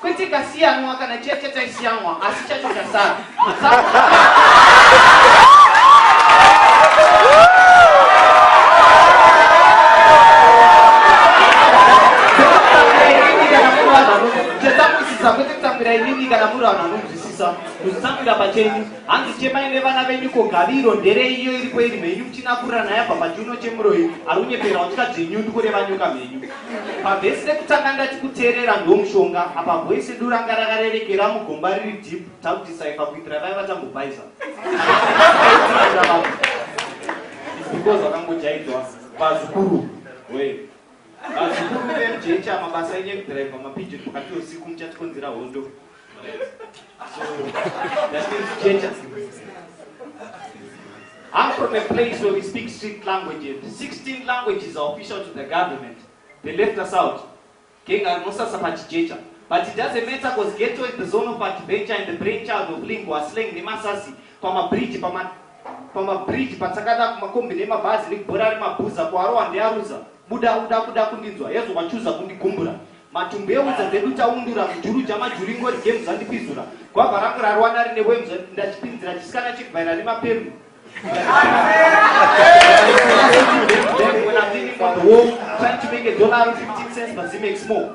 Kwete ikasiyanwa kana chiya chataisiyanwa asi chacho chasara. kuzvitambira pachenyu hanzi chemai nevana venyu ko gaviro nderei iyo iripo iri mhenyu kuchinakurira nayabva pachiuno chemuroyi ari unyepera watika dzenyundu kureva nyoka mhenyu Pavhesi rekutanga ndati kuteerera ndomushonga apa voice redu ranga rakarerekera mugomba riri deep takudisaifa kuitira vaya vatambobhaiza because vakangojaidzwa vazukuru we vazukuru vemjecha mabasa enyu ekudhiraivha mapijini pakati usiku muchatikonzera hondo I'm from a place where we speak strict languages. 16 languages are official to the government. They left us out. King Arnosasa Pachijecha. But it doesn't matter because ghetto is the zone of adventure and the brainchild of lingua slang nemasasi pamabridge pama pamabridge patsakata kumakombi nemabhazi nekubhora remabhuza kuarowa ndearuza Buda uda kuda kundinzwa hezvo wachuza kundigumbura matumbu ewudza dzedu taundura mujuru jamajuru ingori games andipizura gwabva rangu rarwana rine wemza ndachipinzira chisikana chekubhaira nemapembu When I'm thinking about the war, trying to make a dollar 15 cents, but it makes more.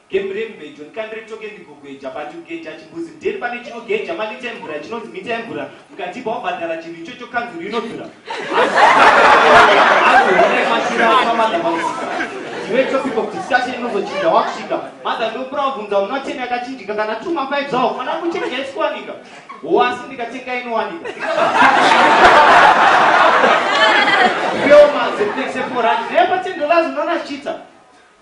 Game renyu bejo ndikandire toke ndigogeja but kugeja chimbuzi ndeni pane chinogeja malita emvura chinonzi mita emvura mukatipa wabhadhara chinhu ichocho kanzuru inodhura azoonai mashura apamadha mausika ndiwe topic of discussion inozochinja wakusvika madha ndokura wabvunza muna ten yakachinjika kana two mafive zvawo mwana kuchenja isikuwanika wo asi ndikatenga inowanika Filma, zepnexe forati, nepa ten dollars unoona chiita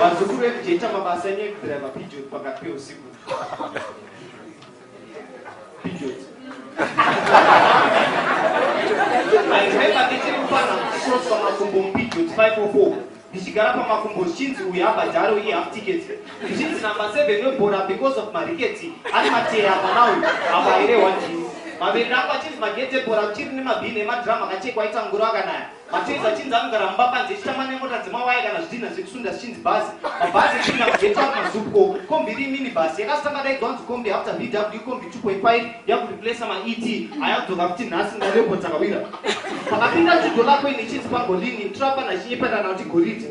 vazukuru vekujeita mabasa enyu ekudriva pigeon pakati peusiku pigeon airemember ndichiri mupana cross pamakumbo mupigeon 504 ndichigara pamakumbo zvichinzi uyu abhadharo iye half ticket zvichinzi number 7 webhora because of mariketi ari mateya mwana uyu apa airehwa ndini maviri rangu achinzi magete bhora kuchiri nemabhini emadrama akachekwa aita ngoro akanaya Mateza chinzi anogara mumba panze chitamba nemota dzemawaya kana zvidhina zvekusunda zvichinzi bhazi mabhazi echipinda kugeta mazupko kombi iri mini bhasi yakazotanga daidzwa nzi kombi after bw kombi 2.5 yakureplesa maet ayakudzoka kuti nhasi ngarepo dzakawira pakapinda chudo lako ini chinzi pangolini trapa nachinyeperana kuti goridhe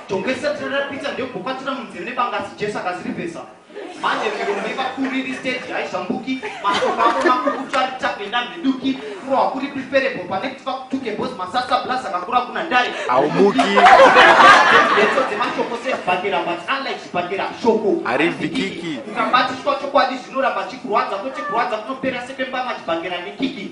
Jongwe risati rapisa ndokupatira munzeve nebanga asi Jesu akazirivhesa. Manje miromo yevakuru iri stage haizvambuki, mashoko avo makukutu ari tagenda mhiduki, furo hakuri preferable pane kuti vakutuke boss masasa plus akakura kuna dare. Haumuki. Ndeto dzemashoko sezvibhakera but unlike zvibhakera shoko harivhikiki. Ukabatiswa chokwadi zvinoramba chikurwadza kwete kurwadza kunopera sepembama chibhakera nekiki.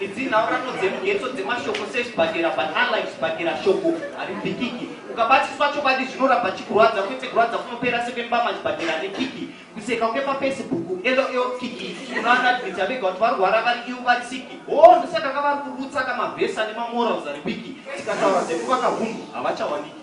Idzi nhaurirano dzemugetso dzemashoko sezvibhakera but unlike zvibhakera shoko haribikiki. Ukabatiswa chokwadi zvinoramba chikurwadza kwete kurwadza kunopera sekwembama chibhakera nekiki. Kuseka kwepafacebook LOL kiki unoanadmita vega kuti varwara vari ivo vari siki. Hoo ndosaka kavari kurutsa kamavhesa nemamorals ari wiki tikataura dzekuvaka hunhu havachawaniki.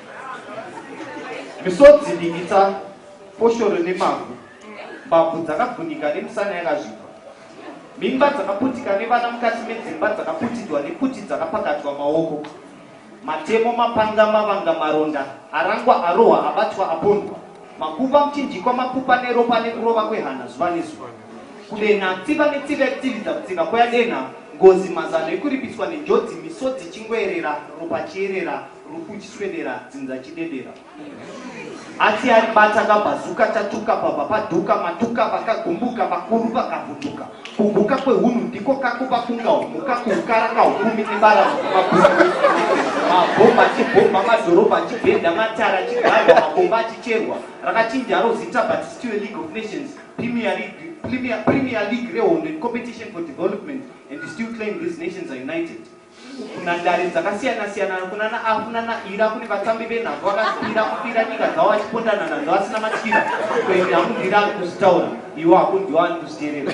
Misodzi dikitsa foshoro nemavhu, mbabvu dzakavhunika nemisana yakazvigwa, mimba dzakaputika nevana mukati medzimba dzakaputidwa nekuti dzakapakatwa maoko, matemo, mapanga, mavanga, maronda, arangwa, arohwa, abatwa, apondwa, makuva, muchinjikwa, makupa neropa nekurova kwehana zuva nezuva, kudenha, tsiva netsiva yekutsividza kutsiva kweyadenha, ngozi, mazano ekuripiswa nenjodzi, misodzi ichingweerera, ropa chierera. Rukuchiswedera dzinza chidedera Asi aribata kabhazuka tatuka baba paduka matuka vakagumbuka vakuru vakavhunduka Kuguka kwehunhu ndiko kako pakunga humuka kuukara kahukumi nebara mabhuku Mabhomba chibhomba madhorobha chibhenda matara chigarwa mabomba achicherwa Rakachinjaro zita but still a league of nations Premier League Premier, Premier League rehondo in competition for development and still claim these nations are united kunhandare dzakasiyana siyana kunana afu nana ira kune vatambi venhabvu vakasipira kupira nyika dzavo vachipondana nadzo vasina matyira kuende hakunzwira ari kuzvitaura iwo hakunzwiwa ari kuzviterera